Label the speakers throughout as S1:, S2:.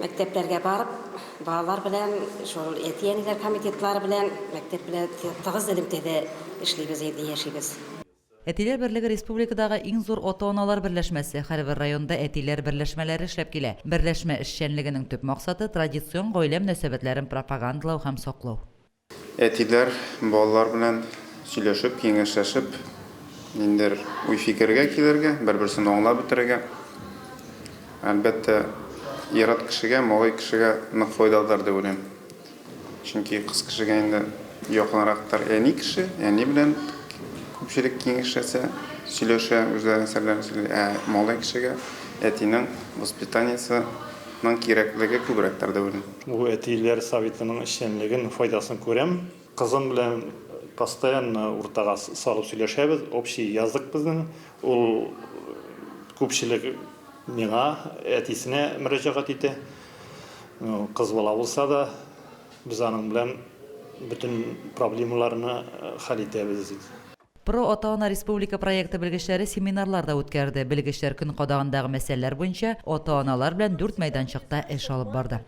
S1: Мәктәпләргә барып, балалар белән, шул әти-әниләр комитетлары белән, мәктәп белән тыгыз элемтәдә эшлибез инде, яшибез. Әтиләр
S2: берлеге республикадагы иң зур ата-аналар берләшмәсе. Һәрбер районда әтиләр берләшмәләре эшләп килә. Берләшмә эшчәнлегенең төп максаты, традицион гаилә мөнәсәбәтләрен пропагандалау һәм саклау. Әтиләр
S3: балалар белән сөйләшеп, киңәшләшеп, ниндидер уй-фикергә килергә, бер-берсен аңлап бетерергә, әлбәттә, ир-ат кешегә, малай кешегә нык файдалыдыр дип уйлыйм. Чөнки кыз кешегә инде якынрактыр әни кеше, әни белән күпчелек киңәшләсә, сөйләшә, үзләренең серләрен сөйли. Ә малай кешегә әтинең воспитаниесе, ның кирәклеге күбрәктер дип уйлыйм. Бу әтиләр
S4: советының эшчәнлеген, файдасын күрәм. Кызым белән постоянно уртага салып сөйләшәбез. Общий язык безнең. Ул күпчелек миңа, әтисенә мөрәҗәгать итә. Кыз бала булса да, без аның белән бөтен проблемаларны хәл итәбез. Про ата-ана
S2: республика проекты белгечләре семинарлар да үткәрде, белгечләр көн кадагындагы мәсьәләләр буенча ата-аналар белән дүрт мәйданчыкта эш алып барды.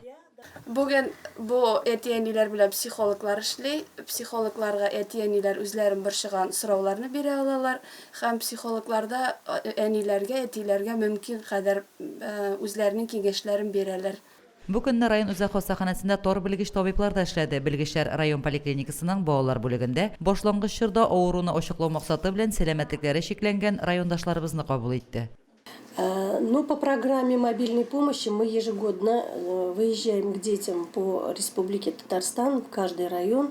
S2: Бүген
S5: бу әти-әниләр белән психологлар эшли. Психологларга әти-әниләр үзләрен борчыган сорауларны бирә алалар һәм психологлар да әниләргә, әтиләргә мөмкин кадәр үзләренең киңәшләрен бирәләр. Бу көнне район
S2: үзәк хастаханәсендә тар белгеч табиблар да эшләде. Белгечләр район поликлиникасының балалар бүлегендә башлангыч чорда авыруны ачыклау максаты белән сәламәтлекләре чикләнгән райондашларыбызны кабул итте. Ну
S6: по программе мобильной помощи мы ежегодно выезжаем к детям по Республике Татарстан в каждый район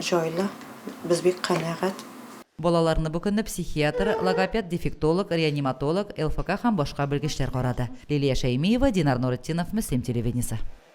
S7: җайлы, без бик канәгать. Балаларны бу
S2: көнне психиатр, логопед-дефектолог, реаниматолог, ЛФК һәм башка белгечләр карады. Лилия Шәймиева, Динар Нуретдинов, Мөслим телевидениесе.